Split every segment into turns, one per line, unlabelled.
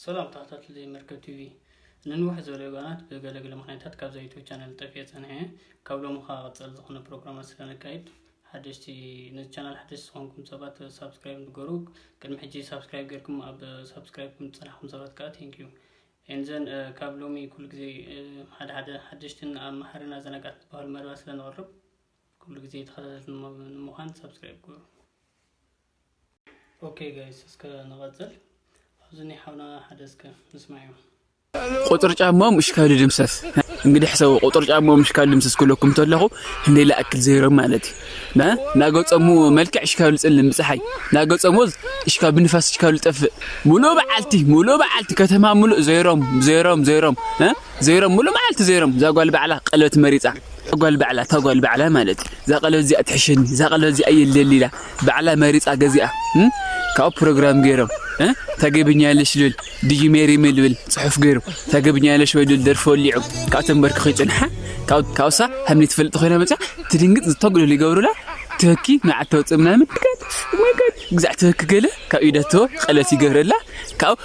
ሰላም ተኸታተልቲ መርከብ ቲቪ ንንውሕ ዝበለ እዋናት ብገለገለ ምክንያታት ካብዛ ዩቱብ ቻነል ጠፊኤ ፀኒሐ እየ ካብ ሎሚ ከዓ ቀፀል ዝኾነ ፕሮግራማት ስለነካይድ ሓደሽቲ ነዚ ቻናል ሓደሽቲ ዝኾንኩም ሰባት ሳብስክራይብ ንገሩ ቅድሚ ሕጂ ሳብስክራይብ ጌርኩም ኣብ ሳብስክራይብ ከም ዝፀናሕኩም ሰባት ከዓ ቴንክዩ ኤንዘን ካብ ሎሚ ኩሉ ግዜ ሓደ ሓደ ሓደሽትን ኣብ መሓርን ኣዘናጋዕቲ ዝበሃሉ መደባት ስለንቕርብ ኩሉ ግዜ ተኸታተልቲ ንምዃን ሳብስክራይብ ገሩ ኦኬ ጋይስ እስከ ንቐጽል ኣብዚ ናይ ሓውና ሓደ እስከ ንስማዕዮ ቁጥር
ጫማው ምሽ ካብ ድምሰስ እንግዲህ ሕሰቡ ቁጥር ጫማው ምሽ ካብ ድምሰስ ክለኩም ተለኹ እንዴ ላእክል ዘይሮ ማለት ና ናገጸሙ መልክዕ እሽ ካብ ልጽልም ብፀሓይ ናገጸሙ እሽ ካብ ንፋስ እሽ ካብ ልጠፍእ ሙሉ በዓልቲ ሙሉ በዓልቲ ከተማ ሙሉ ዘይሮም ዘይሮም ዘይሮም ዘይሮም ሙሉ በዓልቲ ዘይሮም ዛጓል በዓላ ቀለበት መሪጻ ጓል ባዕላ እታ ጓል ባዕላ ማለት እዩ እዛ ቀለበት እዚኣ ትሕሸኒ እዛ ቀለበት እዚኣ የለኒ ኢላ ባዕላ መሪፃ ገዚኣ ካብኡ ፕሮግራም ገይሮም ታገብኛለሽ ልብል ድዩ ሜሪ ምልብል ፅሑፍ ገይሩ ታገብኛለሽ ወይ ልብል ደርፊ ወሊዑ ካብቶም በርክኹ ይፅንሓ ካብሳ ሃምኒ ትፈልጥ ኮይና መፃ ትድንግፅ ዝተጉልሉ ይገብሩላ ትህኪ ንዓት ተውፅእ ምናምን ግዛዕ ትህኪ ገለ ካብ ኢደቶ ቀለት ይገብረላ ካብኡ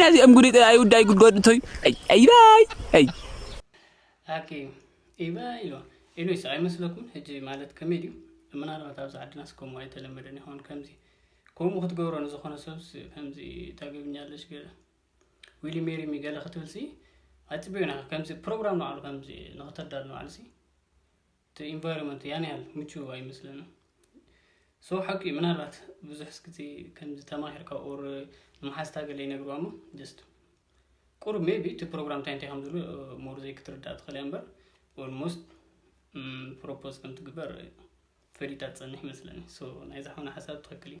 ናዚኦም ጉዲ ጥራይ ውዳይ ጉድጎድ እንተዩ ኣይባይ ኣይ
ኣኪ ኢባ ኢሎ ኢሉ ይስዕ ኣይመስለኩምን ሕጂ ማለት ከመይ ድዩ ምናልባት ኣብዚ ዓድናስ ከምኡ ኣይተለመደን ይኸውን ከምዚ ከምኡ ክትገብሮ ንዝኾነ ሰብስ ከምዚ ታገብኛለሽ ገለ ዊሊ ሜሪ ሚገለ ክትብልሲ ኣፅቢዩና ከምዚ ፕሮግራም ንባዕሉ ከምዚ ንክተዳሉ ንባዕሉሲ እቲ ኢንቫይሮመንት ያን ያህል ምቹው ኣይመስለንን ሶ ሓቂ እዩ ምናልባት ብዙሕ ስክቲ ከምዚ ተማሂርካ ኦር ንመሓዝታ ገለ ይነግርዋ እሞ ጀስት ቁሩብ ሜቢ እቲ ፕሮግራም እንታይ እንታይ ከም ዝብሉ ሞር ዘይክትርዳእ ትኽእል እያ እምበር ኦልሞስት ፕሮፖዝ ከም ትግበር ፈሊጣ ትፀንሕ ይመስለኒ ናይዚ ሓውና ሓሳብ ትኽክል እዩ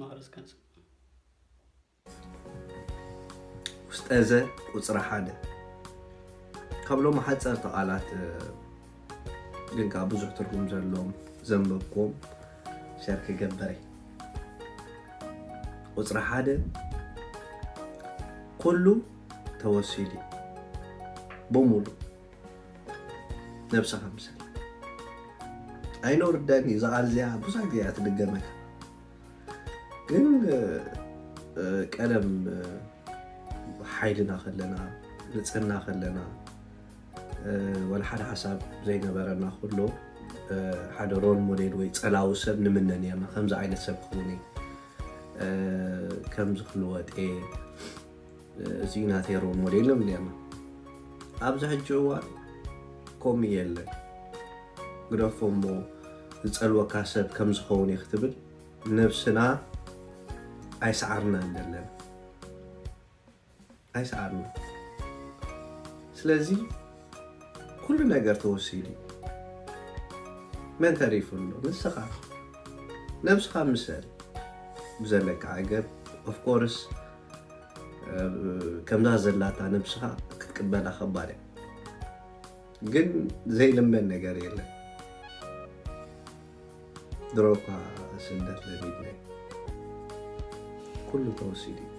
ማእርስ
ቀጽል። ውስጠዘ ቁጽሪ ሓደ ካብ ሎሚ ሓጸርቲ ቃላት ግን ከኣ ብዙሕ ትርጉም ዘለዎም ዘንበብክዎም ሸር ክገብር እየ። ቁጽሪ ሓደ ኩሉ ተወሲዱ እዩ ብሙሉእ ነብስኻ ምሰል ኣይነውርደን እዩ ዛቃል እዚኣ ብዙሕ ግዜ እያ ትድገመካ ግን ቀደም ሓይልና ከለና ንፅህና ከለና ወላ ሓደ ሓሳብ ዘይነበረና ኩሎ ሓደ ሮል ሞዴል ወይ ፀላዊ ሰብ ንምነ ነርና ከምዚ ዓይነት ሰብ ክኸውን ከምዚ ክልወጥ እየ እዚ ናተይ ሮል ሞዴል ነው እንዲያማ ኣብዚ ሕጂ እዋን ከምኡ የለን ግደፎ እሞ ዝፀልወካ ሰብ ከም ዝኸውን እዩ ክትብል ነብስና ኣይሰዓርና ዘለና ኣይሰዓርና ስለዚ ኩሉ ነገር ተወሲዱ መን ተሪፉ ኣሎ ንስኻ ነብስኻ ምሰል ብዘለካ ዓገብ ኦፍኮርስ ከምዛ ዘላታ ነብስኻ ክትቅበላ ከባድ እያ ግን ዘይልመን ነገር የለን ድሮ እኳ ስደት ለሚድና እዩ። ኩሉ ተወሲዱ እዩ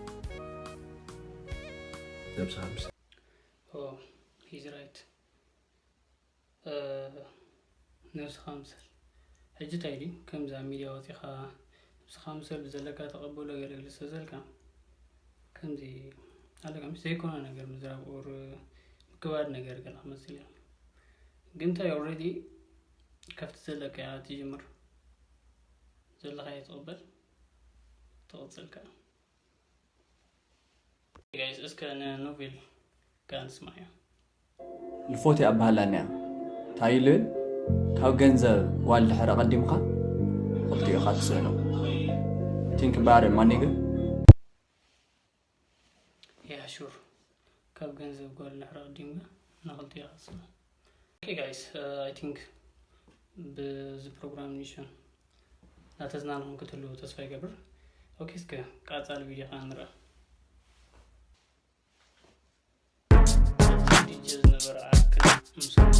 ነብስኻ ምስ ኦ
ሂዝ ራይት ነብስኻ ምሰል ሕጂ ታይ ድዩ ከምዚ ኣብ ሚድያ ወጺኻ ንብስኻ ምሰል ብዘለካ ተቀበሎ ገለ ገለ ዝተዘልካ ከምዚ ኣለካ ምስ ዘይኮነ ነገር ምዝራብ ኦር ምክባድ ነገር ገለ ክመስል እዩ ግን ታይ ኦልሬዲ ከፍቲ ዘለካ እያ ትጅምር ዘለካ እየ ትቅበል ትቅጽል ከኣ ጋይስ እስከ ንኖቬል ጋር ንስማያ
ልፎቲ ኣባህላንያ ታይ ኢሉ ካብ ገንዘብ ጓል ድሕረ ቀዲምካ ክልቲኡ ኢኻ ትስእኖ ቲንክ ባር ማኒግ
ያ ሹር ካብ ገንዘብ ጓል ድሕረ ቀዲምካ ንክልቲኡ ኢኻ ትስእኖ ኦኬ ጋይስ ኣይ ቲንክ ብዚ ፕሮግራም ኒሽን ናተዝናንኹም ክትህልው ተስፋ ይገብር ኦኬ እስከ ቃፃሊ ቪድዮ ከዓ ንርኣ ዲጀ ዝነበረ ኣክል ምስኩት